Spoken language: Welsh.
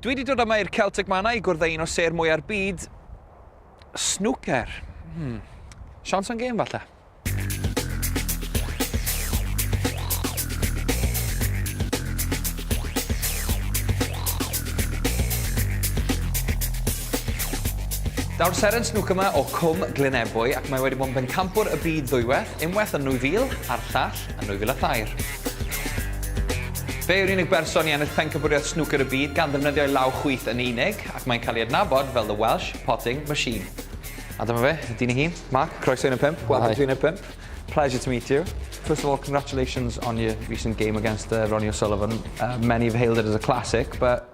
Dwi wedi dod yma i'r Celtic Manor i gwrdd â un o sêr mwya'r byd, snwcer. Hmm. Siawns am gêm falle? Daw'r seren snwc yma o Cwm Glynebwy ac mae wedi bod yn bencampwr y byd ddwywaith, unwaith yn 2000 a'r llall yn 2003. Fe yw'r unig berson i ennill Pencampwriaeth Snwcer y Byd gan ddefnyddio ei law chwith yn unig, ac mae'n cael ei adnabod fel 'The Welsh Potting Machine'. A dyma fe, y dyn ei hun, Mark, croeso i Uned 5, welcome to Uned 5. Pleasure to meet you. First of all, congratulations on your recent game against uh, Ronnie O'Sullivan. Uh, many have hailed it as a classic, but